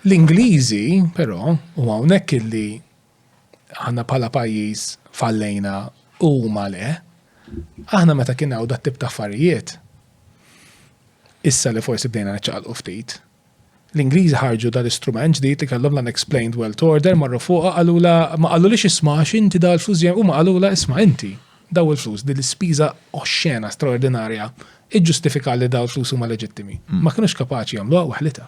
L-Ingliżi, però, u hawnhekk illi aħna bħala pajjiż fallejna u huma le, aħna meta kien hawn dat-tip ta' affarijiet, issa li forsi bdejna niċċaqalqu ftit, l-Ingliżi ħarġu dal-istrument ġdid li kellhom l-unexplained wealth order, marru fuqha qalulha, ma qalulhiex isma' għax inti daw il-flus ġejjin, huma qalulha isma' inti, daw il-flus, din l-ispiża oxxena, straordinarja, iġġustifika li daw il-flus huma leġittimi. Ma kinux kapaċi jagħmluha waħditha.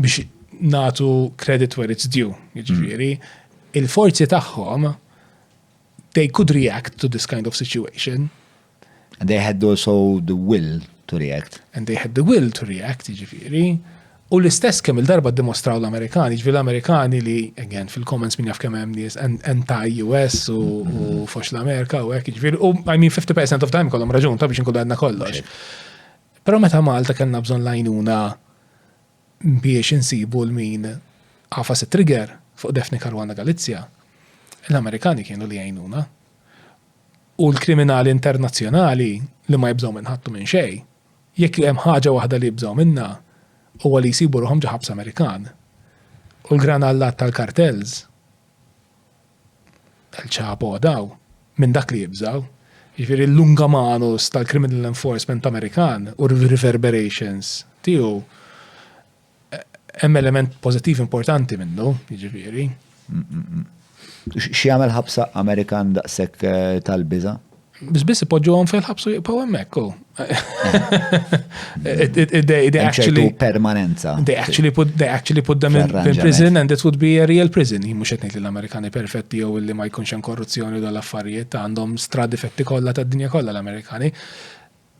biex natu credit where it's due, jiġifieri, il-forzi tagħhom they could react to this kind of situation. And they had also the will to react. And they had the will to react, jiġifieri. U l-istess kemm il-darba dimostraw l-Amerikani, ġvi l-Amerikani li, again, fil-comments minn jaf kemm hemm nies anti-US u mm-hmm. fox l-Amerika u hekk, ġvi, u I mean 50% of time kollhom raġun ta' biex nkun għadna kollox. Però meta Malta kellna bżonn l-għajnuna biex insibu l-min għafa se trigger fuq Daphne Caruana Galizia, l-Amerikani kienu li għajnuna. U l-kriminali internazzjonali li ma jibżgħu minn ħattu minn xej, jekk hemm ħaġa waħda li jibżgħu minnha huwa li jsibu ruħhom ġo ħabs Amerikan. U l-granallat tal-kartels El Chapo daw minn dak li jibżgħu. Jiġifieri l-lunga manus tal-criminal enforcement Amerikan u r-reverberations tiegħu hemm element pożittiv importanti minnu, jiġifieri. X'jagħmel ħabsa Amerikan daqshekk tal-biża'? Biss biss ipoġġuhom fil-ħabs u jibqgħu hemmhekk u. They actually permanenza. They actually put they actually put them in, in prison and it would be a real prison. Jien mhux qed ngħid l-Amerikani perfetti jew li ma jkunx hemm korruzzjoni u l-affarijiet għandhom stradi fetti kollha tad-dinja kollha l-Amerikani.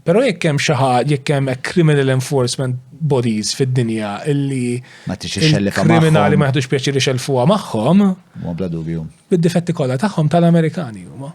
Pero jekk hemm xi ħadd jekk hemm criminal enforcement bodies fid-dinja illi ma tixi xellifa kriminali ma jaħdux pjaċiri xelfuha magħhom. Ma bla dubju. Bid-difetti kollha tagħhom tal-Amerikani huma.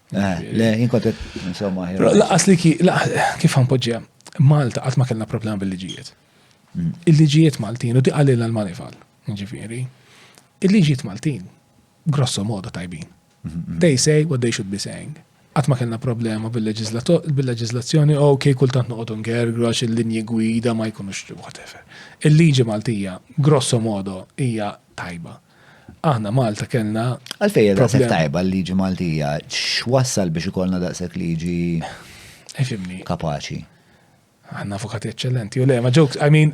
Eh, le, jien kont insomma. Laqas li kif ħanpoġġija, Malta qatt ma kellna problema bil-liġijiet. Mm. Il-liġijiet Maltin u diqalilna l-manifal, ġifieri. Il-liġijiet Maltin grosso modo tajbin. Mm-hmm. They say what they should be saying għat ma kena problema bil-leġizlazzjoni u kej kultant noqodu ngergru għax il-linji gwida ma jkunux whatever. Il-liġi Maltija, grosso modo, hija tajba. Aħna Malta kellna. Għalfejn daqshekk tajba l-liġi Maltija, x'wassal biex ikollna daqshekk liġi Ifimni. Kapaċi. Għanna avukati eccellenti, u le, ma ġokes, I mean,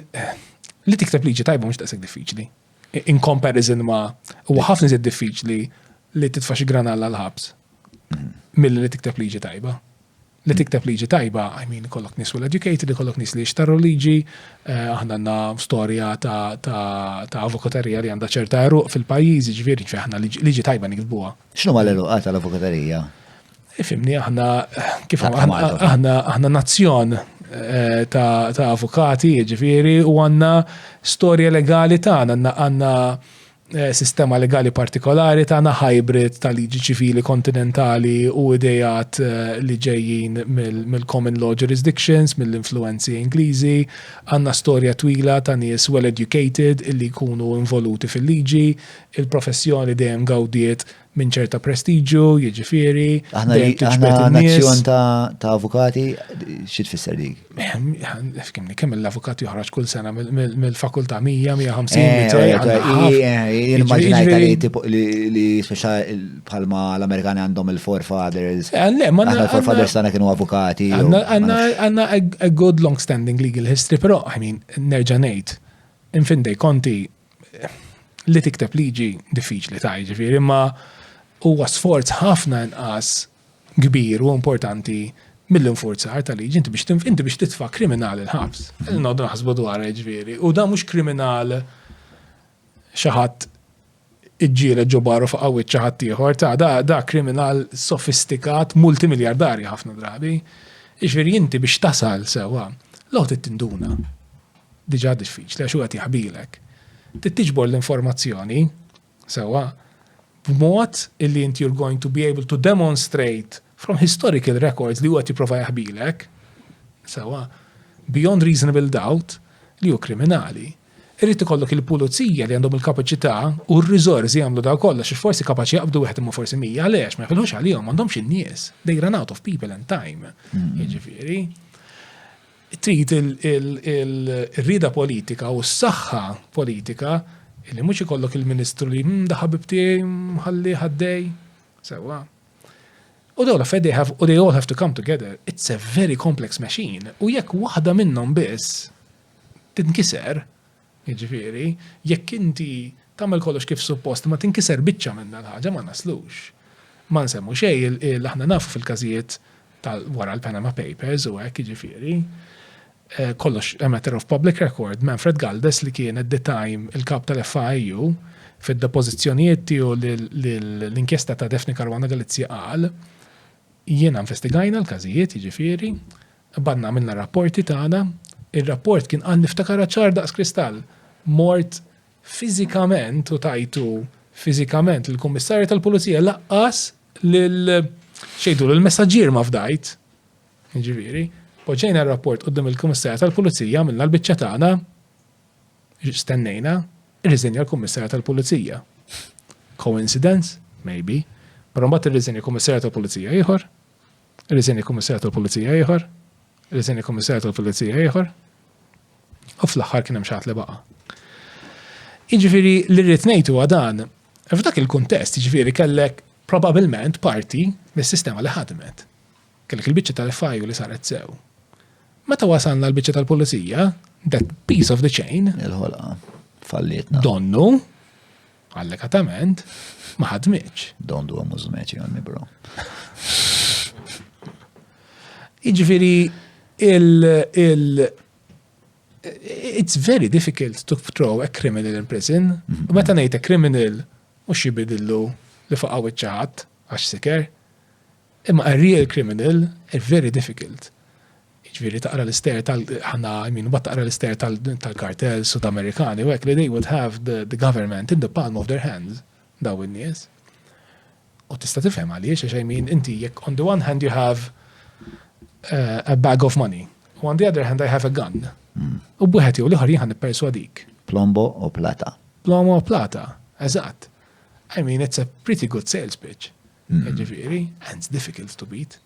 li tikteb liġi tajba mux taqseg diffiċli. In comparison ma, u ħafna zed diffiċli li titfa xi granalla l-ħabs. Mhm. Mill li tikteb liġi tajba. li tikteb liġi tajba, I mean, kollok nis well educated, kollok nis li jixtarru liġi, eh, aħna għanna storja ta' avokaterija li għanda ċerta eruq fil-pajiz, ġviri ġviri aħna liġi tajba nikdbuha. Xnu ma l-eruq għata l-avokaterija? Ifimni, eh, aħna, kif aħna, aħna nazzjon eh, ta' avokati, ġviri, u għanna storja legali ta' għanna għanna Eh, sistema legali partikolari tagħna hybrid ta' liġi ċivili kontinentali u idejat eh, li ġejjin mill-common law jurisdictions, mill-influenzi Ingliżi, għandna storja twila ta' nies well educated illi jkunu involuti fil-liġi, il-professjoni dejjem gawdiet minn ċerta prestiġju, jiġifieri. Aħna aħna nazzjon ta' avukati, xi tfisser dik? Kemm kemm l-avukat joħroġ kull sena mill-fakultà 100, 150, eh, eh, eh, Immaġinajta li tipo li speċa bħalma l-Amerikani għandhom il-forefathers. Le, ma il-forefathers tagħna kienu avukati. Għandna a good long standing legal history, però I mean nerġa' ngħid, infindej konti li tikteb liġi diffiċli ta' ġifiri, imma huwa sforz ħafna inqas kbir u importanti mill-infurzar ta' liġi, inti biex inti biex titfa' kriminal il-ħabs. Mhm. Noddu naħsbu dwar ġviri. U da mhux kriminal xaħat iġġiele ġobaru fuq qawwiet ċaħat ieħor ta' da, da kriminal sofistikat multimiljardarji ħafna drabi. Iġviri inti biex tasal sewa, l-għot tinduna. diġà diffiċli għax hu qed jaħbilek, trid tiġbor l-informazzjoni sewwa b'mod illi inti you're going to be able to demonstrate from historical records li hu qed jipprova jaħbilek sewwa beyond reasonable doubt li hu kriminali. Irrid ikollok il-pulizija li għandhom il-kapaċità u r-riżorsi jagħmlu daw kollox għax forsi kapaċi jaqbdu wieħed imma forsi mija għaliex ma jħilħux għalihom m'għandhomx in-nies. They run out of people and time. Hmm. Jiġifieri. Trid ir-rieda politika u s-saħħa politika li mhux ikollok il-Ministru li hm da ħabib tiegħi nħallih għaddej. Sewwa. U dawn l-affarijiet they have u they all have to come together. It's a very complex machine u jekk waħda minnhom biss tinkiser, Jiġifieri, jekk inti tagħmel kollox kif suppost imma tinkiser biċċa minnha l-ħaġa ma naslux. Ma nsemmu xejn il, aħna nafu fil-każijiet ta' wara l-Panama Papers u hekk jiġifieri, kollox a matter of public record, Manfred Galdes li kien at the time il-Kap tal-FAIU, fid-depożizzjonijiet tiegħu lill-inkjesta ta' Daphne Caruana Galizia qal, jiena investigajna l-każijiet jiġifieri, Qbadna għamilna r-rapporti tagħna, ir-rapport kien qal niftakarha ċar daqs kristall, mort fiżikament u tajtu fiżikament lill-Kummissarju tal-Pulizija laqqas lil x'jgħidulu l-messaġġier ma fdajt. Jiġifieri, poġġejna r-rapport quddiem il-Kummissarju tal-Pulizija, għamilna l-biċċa tagħna, stennejna, irriżenja l-Kummissarju tal-Pulizija. Coincidence? Maybe. Però mbagħad irriżenja Kummissarju tal-Pulizija ieħor, Riżenja Kummissarju tal-Pulizija ieħor, riżenja Kummissarju tal-Pulizija ieħor, u fl-aħħar kien hemm xi li baqa'. Jiġifieri li rrid ngħidu dan, f'dak il-kuntest jiġifieri kellek probabilment parti mis-sistema li ħadmet. Kellek il-biċċa tal-FIU li saret sew. Meta wasalna l-biċċa tal-pulizija, that piece of the chain. Il-ħolqa. Fallietna. Donnu. Allegatament, ma ħadmitx. Don't do a mużmeċi għanni, bro. Iġviri, il, il, it's very difficult to throw a criminal in prison. Mhm. U meta ngħid a criminal, mhux jibidillu li faqgħu iċ-ċaħat għax siker. Imma a real criminal is very difficult. Jiġifieri taqra l-ister tal ħana I mean mbagħad taqra l-ister tal-kartels Sud-Amerikani u hekk li they would have the, the government in the palm of their hands daw in-nies. U tista' tifhem għaliex għax I mean inti jekk on the one hand you have uh, a bag of money u on the other hand I have a gun. Mm. U b'wieħed jew l-ieħor jien nipperswadik. Plombo u plata. Plombo u plata, eżatt. I mean, it's a pretty good sales pitch. Jiġifieri, hence difficult to beat.